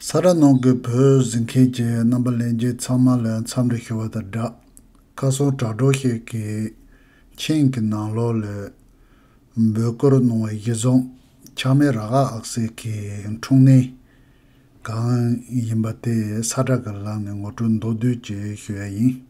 ས་ར་ནང་གི་བོད་བཟི་མཁན་གྱི་རྣམ་པ་ལན་རྒྱས་ཚང་མ་ལ་མཚམས་འདྲི་ཞུ་བ་དང་སྦྲགས། བཀའ་སྲུང་དྲག་གྲོགས་ཤིག་གིས་མཆན་གྱི་ནང་ལོགས་ལས། འབོད་སྐུལ་གནང་བའི་གཞི་བཟང་ཆགས་མེད་རག་ཨག་ཨག་སེ་གི་འཁྲུངས་གནས་གང་ཡིན་པ་དེ་ས་བཀྲ་གི་ལག་ནས་ངོ་སྤྲོད་མདོར་བསྡུས་ཀྱིས་ཞུ་ཡ་ཡིན།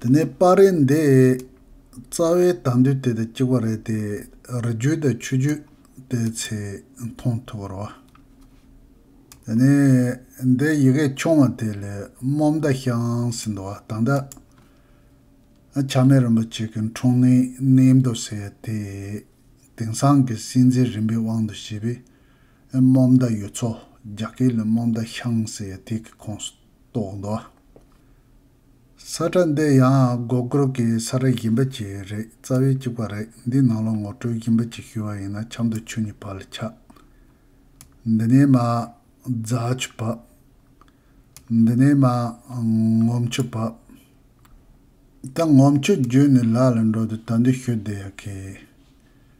དེ་ནས་པ་རེ་འདས། རྩ་བའི་དག་འདུས་དེ་དང་གཅིག་པ་རེད་དེ། རི་རྒྱུད་དང་ཆུ་རྒྱུད་དེ་ཚེ་མཐོང་ཐུ་བར་བ། དེ་ནས་འདས་ཡི་གེ་ཆུང་བ་དེ་ལས་རྨོ་མདའ་བཤང་ཟིན་དུ་བ་དང་འདྲ། ཆགས་མེད་རིན་པོ་ཆེ་གི་འཁྲུངས་གནས་གནས་མདོ་ཟེར་དེ། དེང་སང་གི་སྲིད་འཛིན་རིམ་པའི་དབང་དུ་བྱས་པས། རྨོ་མདའ་ཡོད་ཚོ་རྒྱ་སྐད་ལས་རྨོ་མདའ་བཤང་ཟེར་དེ་གི་ཁོངས་སུ། གཏོགས་འདུག། ས་ཁྲ་འདི་ཡང་སྒོ་སྒོར་གྱི་ས་ཁྲ་བཞི་འབའ་གཅིག་རེད་རྩ་བའི་གཅིག་པ་རེད་འདིའི་ནང་ལོགས་ངོ་སྤྲོད་བཞི་འབའ་གཅིག་ཞུ་བ་ཡིན་ན་ཆབ་མདོ་ཆུ་གཉིས་བར་ལ་ཆགས། འདི་ནས་མ། རྫ་ཆུ་བབས། འདི་ནས་མ། ངོམ་ཆུ་བབས། ད་ངོམ་ཆུ་བརྒྱུད་ནས་ལ་ལ་འགྲོ་དུས་ད་འདི་ཞུ་བདེ་ཡག་གི།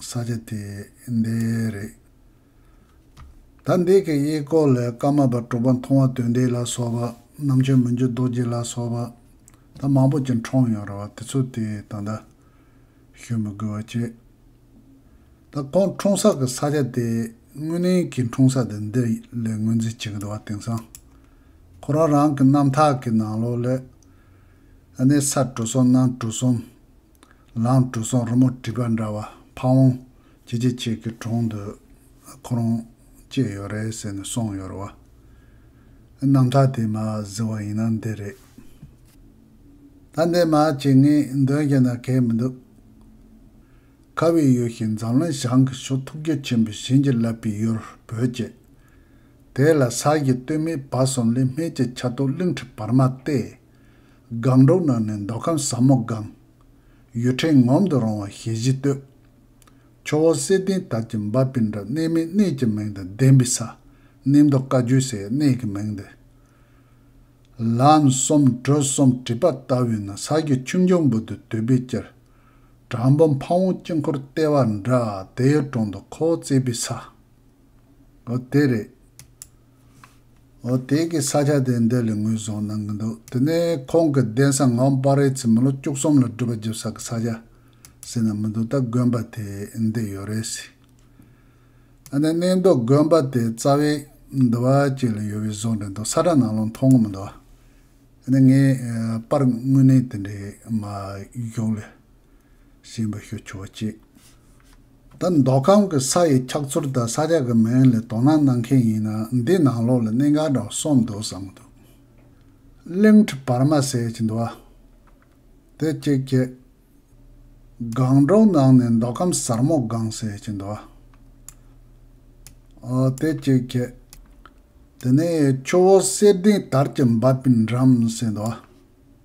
ས་ཆ་དེ་འདི་རེད། ད་འདི་གི་གཡས་སྐོར་ལས་སྐར་མ་པ་གྲོགས་པ་མཐོང་བ་དོན་འགྲེལ་ལ་སོགས་པ་རྣམ་འཕྱོན་མི་འགྱུར་རྡོ་རྗེ་ལ་སོགས་པ་ད་མང་པོ་ཅིག་འཁྲུངས་ཡོད་རེད་བ་དེ་ཚོ་དེ་ད་ད་ཞུ་མི་དགོས་བ་བྱས། ད་ཁོང་འཁྲུངས་ས་གི་ས་ཆ་དེ་དངོས་གནས་ཀྱི་འཁྲུངས་ས་དེ་འདི་ལས་ངོས་འཛིན་བྱེད་གི་འདུག་བ་དེང་སང་ཁོ་རང་རང་གི་རྣམ་ཐག་གི་ནང་ལོགས་ལས་ཨ་ནེ་ས་དྲུག་སོ་གནམ་གྲུ་གསུམ། ལང་གྲུ་སོགས་རི་མོ་བྲིས་པ་འདྲ་བ་ཕ་བོང་ཇེ་ཆེ་ཆེ་གི་གྲོང་དུ་ཁོ་རང་སྐྱེས་ཡོད་རེད་ཟེར་ནས་སོང་ཡོད་རེད་བ། རྣམ་ཐར་དེ་མ་གཟིགས་བ་ཡིན་ན་འདི་རེད། ད་འདི་མ་བྱེད་ངས་འདོན་བྱས་ན་གལ་མི་འདུག། ཁ་བའི་ཡུལ་ཞིག་འཛམ་གླིང་བྱང་གི་ཕྱོགས་ཐུགས་རྒྱུད་ཆེན་པོའི་བྱིན་གྱིས་བརླབས་པའི་ཡུལ་བོད་ཅེས། དེ་ལ་ས་གཞི་སྟོད་སྨད་བར་གསུམ་ལས་སྨད་ཀྱི་ཆ་ཏོག་གླིང་ཁྲི་བར་མ་སྟེ། སྒང་དྲུག་ནང་ནས་མདོ་ཁམས་ཟབ་མོ་སྒང། ཡུལ་ཕྲན་ངོམ་དུ་རུང་བ་ཞལ་བཞི་བསྟོད། ཆུ་བོ་གསེར་ལྡན་དར་གྱི་འབབ་པའི་འགྲམ་གནས་མི་གནས་ཀྱི་མིང་དང་ལྡན་པའི་ས། གནས་མདོ་བཀའ་བརྒྱུད་སའི་གནས་ཀྱི་མིང་འདི། ལམ་གསུམ་དྲོད་གསུམ་བྲིས་པ་ལྟ་བུའི་ན་བཟའ་གྱི་ཆུ་མགྱོགས་འབུར་དུ་དུད་པས་བསྐྱིལ། གྲངས་འབུམ་ཕ་བོང་དཀྱིལ་འཁོར་ལྟེ་བར་འདྲ་དེའི་དྲུང་དུ་ཁོ་བོ་བརྩེགས་པའི་ས། འོ་དེ་རེད། འོ་དེ་གའི་ས་ཆ་དེ་འདི་ལས་ངོས་བཟུང་གནང་གི་འདུག་དེ་ནས་ཁོང་གི་གདན་ས་ངག་དམར་རའི་ཚེ་མི་ལོ་བཅུ་གསུམ་ལ་སྒྲུབ་པ་བརྒྱབ་ས་གི་ས་ཆ་ཟེར་ན་མི་འདུག་ད་དགོན་པ་དེ་འདི་ཡོད་རེད་ཟེར། ཨ་ནེ་གནས་མདོ་དགོན་པ་དེ་རྩ་བའི་འདུ་བ་ཅིག་ལ་ཡོད་པའི་བཟོ་འདྲ་འདུག་ས་ཁྲ་ནང་ལོག་མཐོང་གི་མི་འདུག་ཨ་ནེ་ངས་པར་དངོས་གནས་དེ་འདྲའི་མ་གཞུག་ལས་གཞན་པ་ཞུ་ཆོག་ཅེས། ད་མདོ་ཁམས་ཀྱི་ས་ཡི་འཁྱག་ཚུར་དང་ས་ཆ་གི་མིང་ལ་དོ་སྣང་གནང་མཁན་ཡིན་ན་འདི་ནང་ལོགས་ལ་གནད་འགག་འདྲ་བ་གསུམ་འདུག་བསམ་གྱི་འདུག། གླིང་ཁྲི་བར་མ་ཟེར་གྱི་འདུག་ཨ། དེ་གཅིག་བཅས། སྒང་དྲུག་ནང་ནས་མདོ་ཁམས་ཟར་མོ་སྒང་ཟེར་གྱི་འདུག་ཨ། དེ་གཅིག་བཅས། དེ་ནས་ཆུ་བོ་གསེར་ལྡིང་དར་གྱི་འབབ་པའི་འགྲམ་ཟེར་འདུག་ཨ།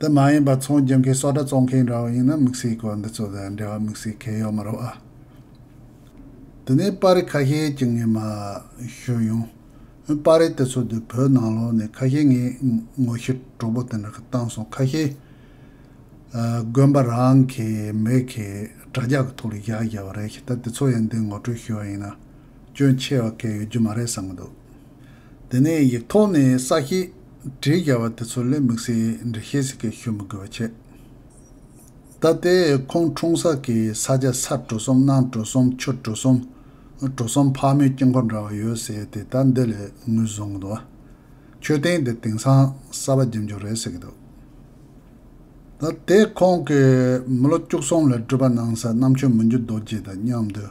དེ་མ་ཡིན་པར་ཚོང་སྦྱིན་མཁན་སོགས་གྲྭ་བཙོང་མཁན་འདྲ་བོ་ཡིན་ན་དམིགས་བསལ་གྱི་འདི་ཚོ་དང་འབྲེལ་བ་དམིགས་བསལ་གལ་ཡོད་མ་རོགས་ཨ། དེ་ནས་པར་རིས་ཁ་ཤས་ཀྱི་ངེས་མ་ཞུས་ཡོང། འོན་པར་རིས་དེ་ཚོ་དུས་བོད་ནང་ལོགས་ནས་ཁ་ཤས་ངས་ངོ་ཤེས་གྲོགས་པོ་དེ་འདྲ་གི་བཏང་སོང་ཁ་ཤས་དགོན་པ་རང་གི་མི་གི་དྲ་རྒྱ་གི་ཐོག་ལ་བཞག་བཞག་བ་རེད་ད་དེ་ཚོ་ཡང་འདི་ངོ་སྤྲོད་ཞུས་བ་ཡིན་ན་སྐྱོན་ཆེ་བ་གལ་ཡོད་རྒྱུ་མ་རེད་བསམ་གི་འདུག། དེ་ནས་ཡིག་ཐོག་ནས་ས་ཞེས་བྲིས་རྒྱ་བ་དེ་ཚོ་ལས་མིག་སེར་འདྲེ་ཤེས་ཟིག་གེ་ཞུ་མི་དགོས་པ་ཆེ། ད་ལྟའི་ཁོང་འཁྲུངས་ས་ཀྱི་ས་ཆ་ས་གྲུ་གསུམ་གནང་གྲུ་གསུམ་ཆུ་གྲུ་གསུམ་གྲུ་གསུམ་ཕག་མོའི་དཀྱིལ་འཁོར་འདྲ་བ་ཡོད་ཟེར་དེ་ད་འདི་ལས་ངོས་བཟུང་གི་འདུག་བ། མཆོད་རྟེན་དེ་དེང་སང་གསར་བ་འགྱིམ་འཇོག་རེད་ཟེར་གི་འདུག་ད་ལྟའི་ཁོང་གི་མི་ལོ་བཅུ་གསུམ་ལ་སྤྲུལ་པ་གནང་ས་གནམ་ཆོས་མི་འགྱུར་རྡོ་རྗེ་དང་མཉམ་དུ།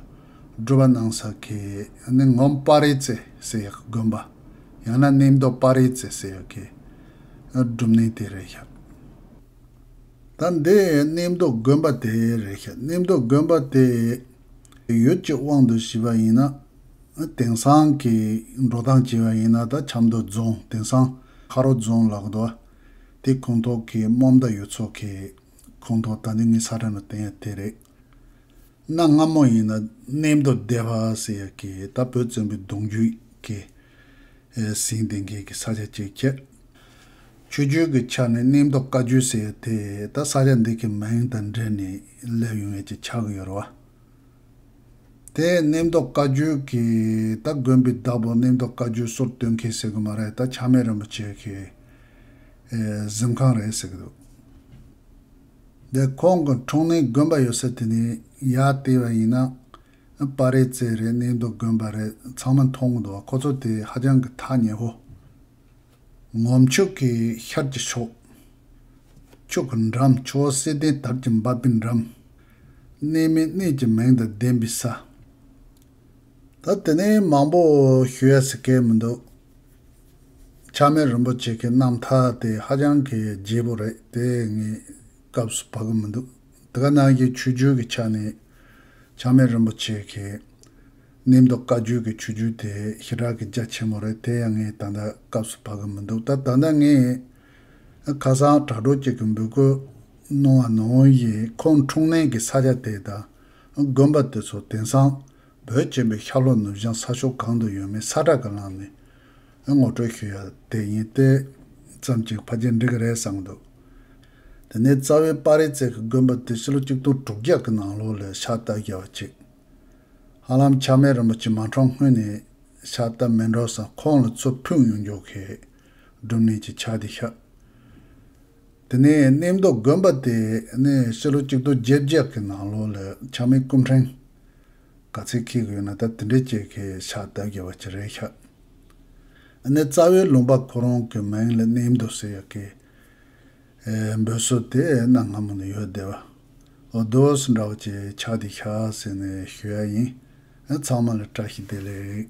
སྒྲོལ་བ་སྣང་ས་ཁེ་ནི་ངོམ་སྤ་རེ་རྩེ་སེ་ཡག་དགོན་པ། ཡང་ན་གནས་མདོ་སྤ་རེ་རྩེ་སེ་ཡག་གི་སྒྲུབ་གནས་དེ་རེད་ཤག་ད། འདི་གནས་མདོ་དགོན་པ་དེ་རེད་ཤག་གནས་མདོ་དགོན་པ་དེ་ཡོད་ཀྱི་དབང་དུ་བྱས་པ་ཡིན་ན་དེང་སང་གི་འགྲོ་སྟངས་བྱས་པ་ཡིན་ན་ད་ཆབ་མདོ་རྫོང་དེང་སང་ཁ་རོ་རྫོང་ལགས་འདུག་ཨ་དེ་ཁོང་ཐོག་གི་རྨོམ་ད་ཡོད་ཚོ་ཁེ་ཁོང་ཐོག་ད་འདི་ངའི་ས་དྲན་པ་དེ་ཡང་དེ་རེད། གནའ་སྔ་མོ་ཡིན་ན་གནས་མདོ་སྡེ་བ་ཟེར་ཡ་གི་ད་བོད་བཙན་པོའི་གདུང་རྒྱུད་ཀྱི་ཟིན་བསྟན་མཁན་གྱི་ས་ཆ་ཅིག་ཁྱད། ཆོས་བརྒྱུད་ཀྱི་ཆ་ནས་གནས་མདོ་བཀའ་བརྒྱུད་ཟེར་ཡ་དེ་ད་ས་ཆ་འདི་གི་མིང་དང་འབྲེལ་ནས་སླེབས་ཡོང་ཡ་ཅིག་ཆགས་ཀྱི་ཡོད་རེད་བ། དེ་གནས་མདོ་བཀའ་བརྒྱུད་ཀྱི་ད་དགོན་པའི་བདག་པོ་གནས་མདོ་བཀའ་བརྒྱུད་སོར་སྟོན་མཁན་ཟེར་གི་མ་རེད་ད་ཆགས་མེད་རིན་པོ་ཆེ་གི་གཟིམ་ཁང་རེད་ཟེར་གི་འདུག། འདི་ཁོང་གི་འཁྲུངས་གནས་དགོན་པ་ཡོད་སའི་དེ་ནི་ཡ་ལྟེ་བ་ཡིན་ན། པར་རེད་རྩེད་རེད་གནས་འདུག་དགོན་པ་རེད་ཚང་མ་མཐོང་གི་འདུག་བ་ཁོ་ཚོ་དེ་ཧ་ཅང་གི་ཐག་ཉེ་བོ། ངོམ་ཕྱུག་གི་ཤར་གྱི་ཕྱོགས། ཕྱུག་གི་འགྲམ་ཕྱོགས་བསིལ་ལྡན་དར་གྱི་འབབ་པའི་འགྲམ། གནས་མིན་གནས་ཀྱི་མིང་དང་ལྡན་པའི་ས། ད་དེ་ནས་མང་པོ་ཞུ་ཡ་ཟེར་སྐལ་མི་འདུག། ཆགས་མེད་རིན་པོ་ཆེ་གི་རྣམ་ཐར་དེ་ཧ་ཅང་གི་བརྗེད་པོ་རེད་དེ་ངས་སྐབས་སུ་བབ་གི་མི་འདུག་དེ་ག་ནང་བཞིན་ཆོས་བརྒྱུད་ཀྱི་ཆ་ནས་ཆགས་མེད་རིན་པོ་ཆེ་གི་གནས་མདོ་བཀའ་བརྒྱུད་ཀྱི་ཆོས་བརྒྱུད་དེ་ཞི་དྲག་གི་རྒྱ་ཆེན་མོ་རེད་དེ་ཡང་ངས་ད་ལྟ་སྐབས་སུ་བབ་གི་མི་འདུག་ད་ད་ལྟ་ངས་ཁ་སང་དྲ་གྲོགས་གཅིག་གི་འབོད་སྐུལ་གནང་བ་ནང་བཞིན་ཁོང་འཁྲུངས་གནས་ཀྱི་ས་ཆ་དེ་དང་དགོན་པ་དེ་ཚོ་དེང་སང་བོད་ཅེས་པའི་ཤར་ལྷོ་ནུབ་བྱང་ས་ཕྱོགས་གང་དུ་ཡོད་མེད་ས་བསྒྲགས་གི་ལམ་ནས་ངོ་སྤྲོད་ཞུ་ཡ་དེ་ཡིན་ཏེ། ཙམ་གྱིས་ཕ་རྒྱལ་འགྲིག་གི་རེད་བསམ་གི་འདུག་དེ་ནས་རྩ་བའི་དཔའ་རིས་བརྩེགས་ཀྱི་དགོན་པ་དེ་ཕྱི་ལོ་གཅིག་སྟོང་དྲུག་བརྒྱ་གི་ནང་ལོ་ལས་ཕྱག་བསྟར་རྒྱལ་བ་གཅིག་ཧ་ལམ་ཆགས་མེད་རིན་པོ་ཆེ་མ་འཁྲུངས་སྔོན་ནས་ཕྱག་བསྟར་མི་འགྲོ་ས་ཁོང་ལ་ཚུར་ཕུད་ཡོང་རྒྱུ་གས་སྒྲུབ་གནས་ཀྱི་ཕྱག་དེ་ཤག་དེ་ནས་གནས་མདོ་དགོན་པ་དེ་ནས་ཕྱི་ལོ་གཅིག་དོ་བརྒྱད་བརྒྱད་ཀྱི་ནང་ལོ་ལ་ཆགས་མེད་སྐུ་འཕྲེང། ག་ཚད་འཁྱིལ་དགོས་ན་ད་དེ་འདྲའི་སྐྱེས་ཁའི་ཕྱག་བདར་རྒྱལ་བ་ཅི་རེད་ཤག། དེ་ནས་རྩ་བའི་ལུང་པ་ཁོ་རང་གི་མིང་ལ་གནས་མདོ་ཟེར་ཡག་གི། འབོད་སྲོལ་དེ་གནའ་སྔ་མོ་ནས་ཡོད་བསྡད་པ། འོ་དོས་འདྲ་བ་ཀྱི་ཕྱག་དེ་ཤག་ཟེར་ནས་ཞུ་ཡ་ཡིན། ཚང་མ་ལ་བཀྲ་ཤིས་བདེ་ལེགས།